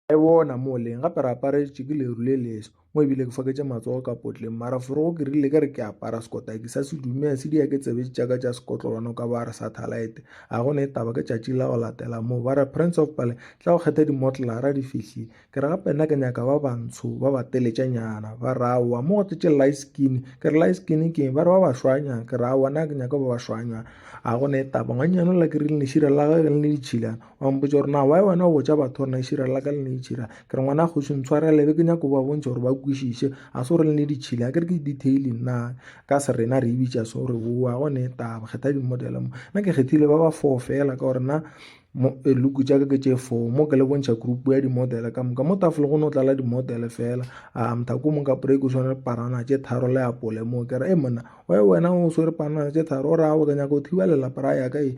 Ge bona mo leng, gape re aparetše ke leru le leso, mo e bile ke foketše matsogo ka potleng, mara forogo ke rile ke re ke apara sekotaki sa sedume ya sidia ke tsebetše tša ka tša sekotlolwana o ka ba a re sa thalaete. A go ne taba, ke tšatši la go latela moo, ba re, Prince of Pale, tla go kgetha dimotlara di fihlile. Ke re, Gape nna ke nyaka ba bantsho, ba bateletšanyana. Ba re, Aowa, mo go tletše light skin. Ke re, Light skin ke eng? Ba re, Ba bašwanyana. Ke re, Aowa, nna ke nyaka ba bašwanyana. A go ne taba, ngwannyane o la ke rile lešira la gagwe le ne le tšhilana, ba mpotsa gore na why wena o botsa batho gore na itšhira la ka le ne itšhira ke re ngwana kgoši ntshwarele be ke nyako ba bontšha gore ba kwešiše a se gore le ne di tšhile a ke re ke detailing na ka se rena re ebitša se gore boa go ne taba kgetha dimodele mo nna ke kgethile ba ba four fela ka gore na eh, luku tša ka ke tše four mo ke le bontšha group ya dimodele ka moka mo tafole go ne o tlala dimodele fela a mothako mong ka break o tshwane parana tše tharo le apole moo ke re e monna why wena o swere parana tše tharo o raya o ke nyako thiba lelapa ra yaka e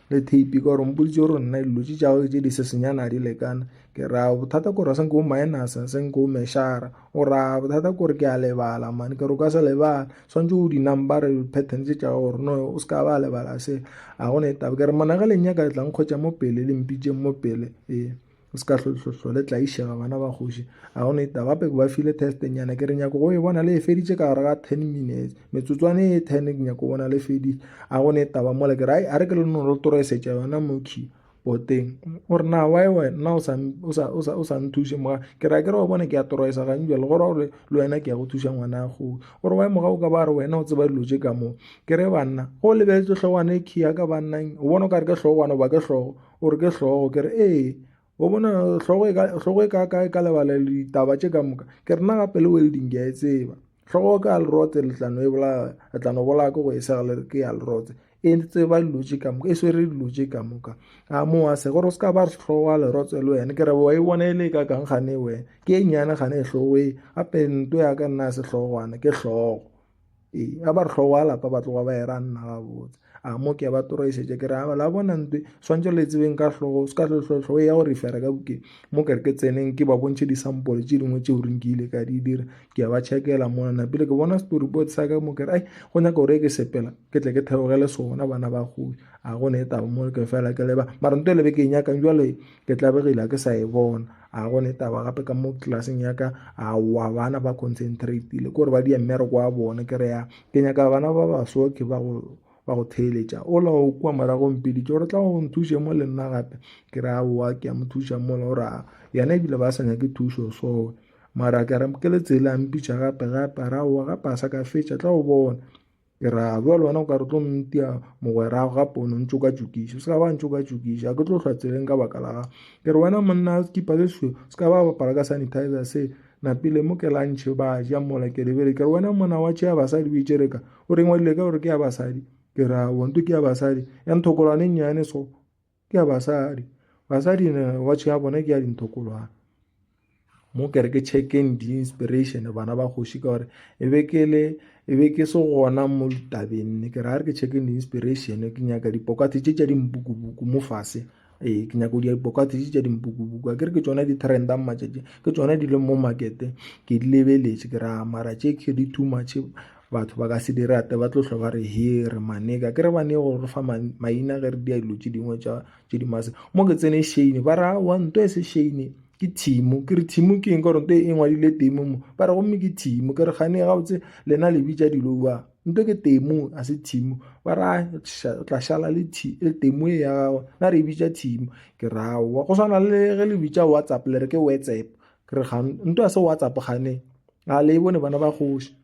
le tape ka gore mpoditse gore nna dilo tše tšago tše di sesenyana di lekana ke ra bothata kore se nko minus se nko meshara o ra bothata kore ke a lebala mane ke re o ka se lebala tshwanetse o di-number pattern tše tšago gore no o se ka ba lebala se a gone e taba ke re monagalenyaka tlang kgwetsa mo pele le mpitseng mo pele ee o se ka hlole tlaišega bana ba kgoši a gone itaba gape ke ba file testenyana ke re nyako go e bona le e feditše ka gare ga ten minutes metsotswane e ten ke nyako bona le feditše a gone itaba mola ke re a re ke le nno lo toroesetša yona mokhi boteng o re na wa e wena o sa nthuše moga ke re a ke re wa bona ke ya toroesa gane jale gore gore le wena ke ya go thuša ngwana go o re wa e moga o ka ba re wena o tseba dilo tše ka moo ke re banna go lebeletse tlhogwana e khi ya ka bannang o bona o ka re ke tlhogwana ba ke tlhogo o re ke hlogo ke re ee o bona hlogo e ka hlogo e ka ka ka lebala ditaba tše ka moka ke re na gape le welding ke a e tseba hlogo ka lerotse le tlano e bola re tlano bola ke go e sega le ke ya lerotse e tseba dilo tše ka moka e swere dilo tše ka moka a mo a se gore o se ka ba re hlogo a lerotse le wena ke re wa e bona e le ka kang gane wena ke e nyane gane e hlogo e gape nto ya ka nna se hlogwana ke hlogo ee a ba re tlhogo wa lapa ba tloga ba era nna ga botse a mo ke ba toroešetša ke re a la bona ntwe swantse le tsebeng ka tlhogo se ka tlhotlhotlho e ya go refera ka bokeng mo kere ke tseneng ke ba bontšhe disampole tše dingwe tšeo reng ke ile ka di dira ke ya ba checkela mona napile ke bona story board sa ka mo kere ai go nyaka gore ke sepela ke tle ke theogele sona bana ba gobi a go ne e taba mo ke fela ke leba mara nto e lebe ke e nyakang jale ke tlabegile a ke sa e bona a go ne taba gape ka mo classeng ya ka a wa bana ba concentrate-ile kore ba dia mmereko wa bone ke re ya ke nyaka bana ba baso ke ba go ba go theeletša ola o kua morago mpeditše gore tla go nthuše mo le nna gape ke re aowa ke ya mo thuša mola o raa yena ebile ba sa nyake thušo soe mara ke re ke le tsela mpitša gape gape a re aowa gape a sa ka fetša tla o bona Ke ra, bjale wena o ka re tlo mtia mogwerago ga pono ntšokatšokiša se ka ba ntšokatšokiša ke tlo hlwa tseleng ka baka la gago ke re wena monna sekipa se seo se ka ba bapala ka sanitizer se napile mo ke lantšhe ba ja mola ke lebele ke re wena monna wa tšhea basadi o itšereka o reng wa dile ka gore ke ya basadi ke ra wonto ke ya basadi ya nthokolwane nnyane so ke ya basadi basadi ne watch ya bona ke ya dintokolwana mo kere ke checkeng di-inspiration bana ba kgoši ka gore e be ke le e be ke se gona mo ditabeng ne ke ra re ke checkeng di-inspiration ke nyaka dipokate tše tša dimpukubuku mo fase ee ke nyako dia dipokate tše tša dimpukubuku a kere ke tsona di-trenda matšatši ke tsona di leng mo markete ke di lebeletše ke ra mara tše ke di too much Batho ba ka se di rate, ba tlo hlwa ba re he re maneka. Ke re ba ne go re fa maina ge re dia dilo tše dingwe tša tše di maswe. Mo ke tsene Shane ba re aowa nto e se Shane ke Thimo. Ke re Thimo ke eng ka gore nto e ngwadile Temo mo. Ba re gomme ke Thimo. Ke re kgane gabotse lena le bitša dilo jwang? Nto ke Temo a se Thimo. Ba re ae o tla šala le le Temo e ya gagwe. Na re e bitša Thimo. Ke re aowa go swana le ge le bitša WhatsApp le re ke WhatsApp. Ke re nto a se WhatsApp kgane a le e bone bana ba kgoši.